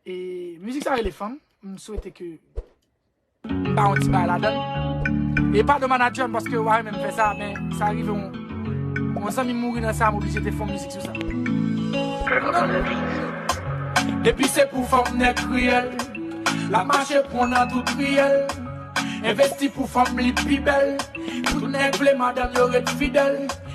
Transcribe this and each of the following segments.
E mizik sa rele fanm, m swete ke m ba yon ti bay la dan. E pa do manager m paske ou a renmen m fè sa, men sa rive yon, yon zanmi mouri nan sa m oblije te fon mizik sou sa. Depi se pou fanm nèg kriyèl, lap mache pran nan tout riyèl. Envesti pou fanm li pi bèl, tout nèg vle madanm yo ret fidèl.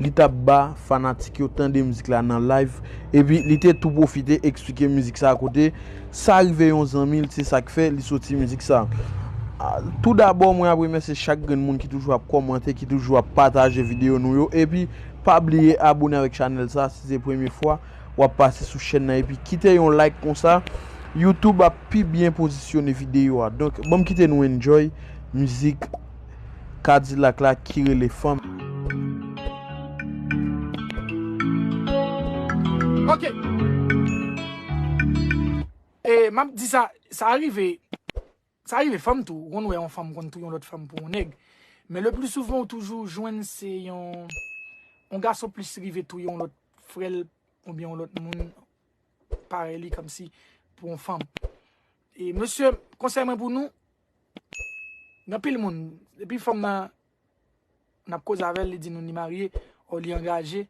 li tap ba fanatik yo tande mizik la nan live epi li te tou pwofite eksplike mizik sa kote sa rive yon zanmi l se sak fè li soti mizik sa tou dabò mwen ap remèsye chak grenn moun ki toujou ap kòmante ki toujou ap pataje videyo nou yo epi pa bliye abone avèk chanèl sa si se premye fwa wap pase sou chèn nan epi kite yon like konsa youtube ap pi byen pozisyone videyo a donk banm kite nou enjoy mizik. Kadilak la ki rele fanm. Ok E map di sa sa rive sa rive fanm tou ou konn wè yon fanm konn touye yon lòt fanm pou yon nèg men le pli souvan ou toujou jwenn se yon yon gason plis rive touye yon lòt frè l oubyen yon lòt moun parèy li kòmsi pou yon fanm e mesye konsèy mwen pou nou Gen anpil moun, depi fanm nan n ap koze avè l, li di nou li marye o li angaje.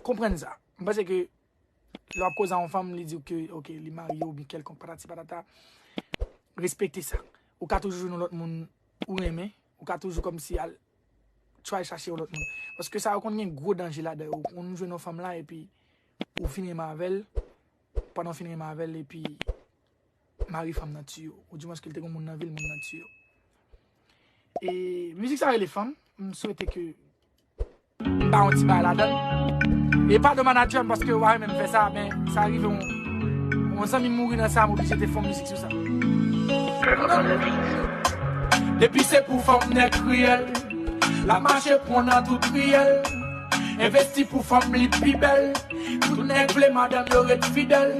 Konprann sa. M panse ke lè w ap koze a yon fanm, li di w ke ok li marye oubyen kèlkonk patati patata, respekte sa. Ou ka toujou jwenn yon lòt moun ou renmen, ou ka toujou kòmsi al tray chache yon lòt moun. Paske sa yo konn gen gwo danje ladan yo. Ou konn jwenn yon fanm la epi ou fin renmen avè l, pandan w fin renmen avè l epi. Mari fanm nan tiyo. Ou di mwen ske l te kon moun nan vil moun nan tiyo. E mizik sa rele fanm. M swete ke m ba yon ti bay la dan. E pa do manager m paske ware men m fè sa. Men sa rive yon. Yon zanmi m mouri nan sa m oblije te fon mizik sou sa. Depi se pou fanm nèg kriyèl. Lap mache pran nan tout riyèl. Envesti pou fanm li pi bèl. Tout nèg vle madanm yo ret fidèl.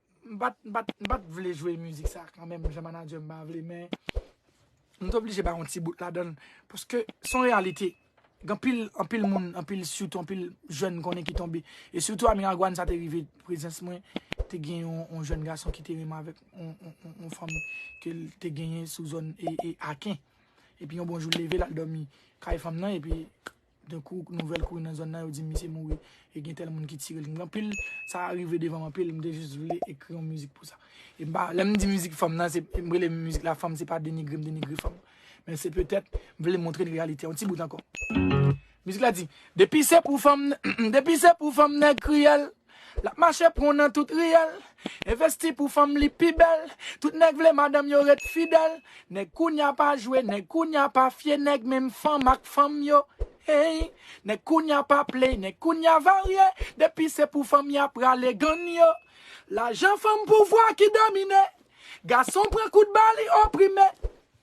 M pat m pat m pat vle jwe mizik sa kan menm jan manager m pa vle men m t oblije bay yon ti bout ladann paske s on reyalite gen anpil anpil moun anpil sitou anpil jèn m konnen ki tonbe e sitou a Miragwàn sa te rive prezans mwen te gen yon jèn gason ki te renmen avèk yon fanm ke l te genyen sou zòn Aken epi yon bon jou l leve l al dòmi kay fanm nan epi Gen kou nouvèl kouri nan zòn nan yo di misye mouri e gen tèl moun ki tire l. Anpil sa rive devan m anpil m te jis vle ekri yon mizik pou sa. E m pa lè m di mizik fanm nan se m rele mizik la fanm se pa denigre m denigre fanm. Men se petèt m vle montre n reyalite yon ti bout ankò. Mizik la di, Depi se pou fanm nèg kriyèl. Lap mache pran nan tout riyèl Envesti pou fanm li pi bèl Tout nèg vle madanm yo ret fidèl Nèg kounya pa jwe Nèg kounya pa fye Nèg menm fanm ak fanm yo hey Nèg kounya pa play Nèg kounya varye Depi se pou fanm ya prale Gann yo Lajan fanm pouvwa ki domine Gason pran kout ba li oprime.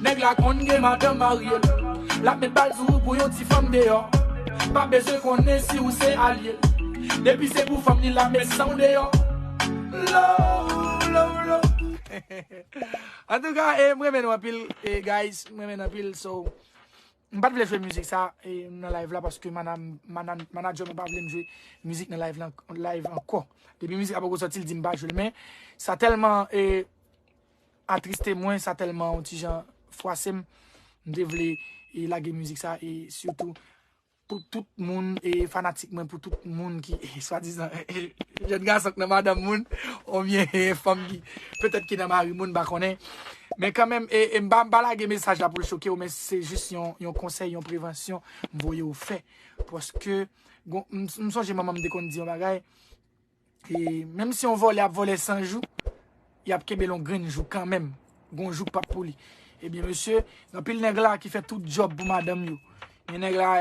Nèg la konn gen madanm marye l Lap met bal sou ou pou yon ti fanm deyò Pa bezwen konnen si ou se alye l Depi se pou fanm li lap met san w deyò Lo lo lo Antouka e m renmen nou anpil guys m renmen n anpil so M pat vle jwe mizik sa nan live la paske manager mwen pa vle m jwe mizik nan live ankò Depi mizik la poko sòti l di m pa jwe l men sa tèlman e Atriste mwen, sa tèlman on ti jan fwase m. M te vle lage mizik sa e sitou pou tout moun e fanatik mwen, pou tout moun ki swadizan jèn gason k nan madanm moun oubyen fanm ki petèt ki nan mari moun m pa konnen. Men kanmenm e m pa lage mesaj la pou l choke ou men se jis yon konsèy, yon prevansyon m voye ou fè paske m sonje manman m te konn di yon bagay E menm si yon vòlè ap vòlè 100 jou, y ap kenbe l yon grenn jou kanmenm. Gon jou k pap pou li. Ebyen mesye, gen anpil nèg la ki fè tout djòb pou madanm yo. Gen nèg la,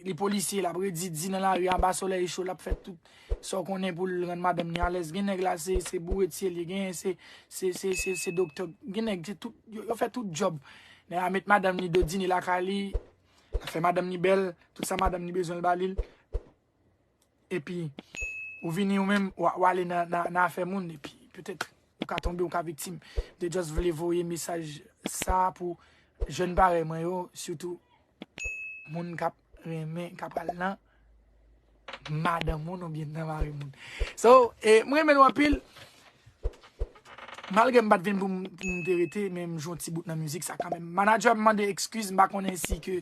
li polisye, l ap redi di nan lari anba solèy cho, l ap fè tout sa w konnen pou l rann madanm ni alèz. Gen nèg la se bouretye l ye, genyen se doktè, gen nèg se tout, yo fè tout djòb. Nèg la met madanm ni dodine lakay li, l ap fè madanm ni bèl, tout sa madanm ni bezwen l ba li l. epi ou vini ou menm ou ale nan afè moun epi petèt ou ka tonbe ou ka viktim de just vle voye mesaj sa pou jèn parèy mwen yo sitou moun kap renmen kap al nan madan moun ou byen nan mari moun so e mwen men wapil malge mbat vin pou m te rete men m jwon ti bout nan mizik sa kanmen manager m mande ekskiz m pa konnen si ke